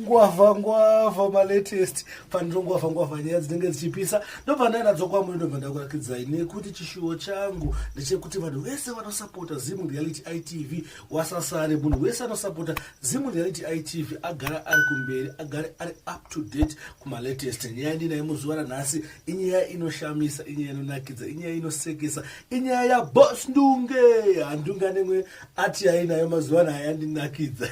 ngwavha ngwavha malatest faniro ngwavha ngwavha nyaya dzinenge dzichipisa ndobva ndainadzo kwamuri ndobva ndakurakidzai nekuti chishuwo changu ndechekuti vanhu vese vanosapota zim reality itv wasasare munhu wese anosapota zim reality itv agara ari kumberi agare ari up to date kumalatest nyaya ndinaye muzuva ranhasi inyaya inoshamisa inyaya inonakidza inyaya inosekesa inyaya yabos ndunge handunga nemwe ati yai nayo mazuva ano hayandinakidza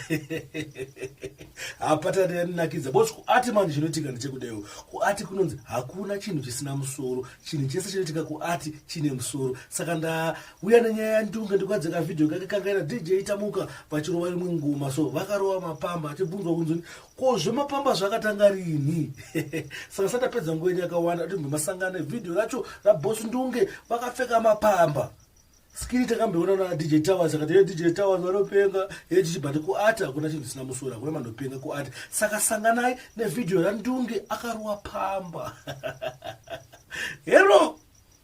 hapatati yandinakidza bos kuati manje chinoitika ndichekudaiwo kuati kunonzi hakuna chinhu chisina musoro chinhu chese chinoitika kuati chine musoro saka ndauya nenyaya yandunge ndikuadzeka vhidhiyo kake kangaira dj itamuka vachirova imwe ngoma so vakarova mapamba achibvunzwa kunzoni Ko zvemapamba zvakatanga rini? Saka sati apedza nguva yenyu yakawanda atimbe masangano evhidhiyo racho raBoss Ndunge vakapfeka mapamba. Skiri takambeona na DJ Towers akati hey, DJ Towers vanopenga hey, tichibhati kuata kuna chinhu chisina musoro hakuna manopenga kuata saka sanganai nevhidhiyo raNdunge akaruwa pamba hero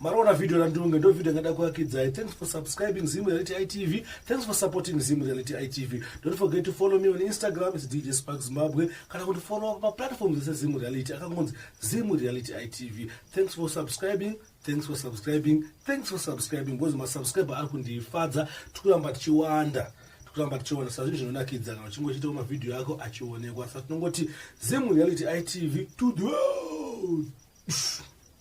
Marona video randunge ndo video ngada kuakidzai. Thanks for subscribing Zim Reality ITV. Thanks for supporting Zim Reality ITV. Don't forget to follow me on Instagram it's DJ Spark Zimbabwe. Kana kuti follow pa platforms dzese Zim Reality akangonzi Zim Reality ITV. Thanks for subscribing. Thanks for subscribing. Thanks for subscribing. Ngozi ma subscriber ari kundifadza tikuramba tichiwanda kuramba tichiona sazvinhu zvinonakidza kana uchinge uchiitawo mavhidhiyo ako achionekwa sa tinongoti zim reality itv to the world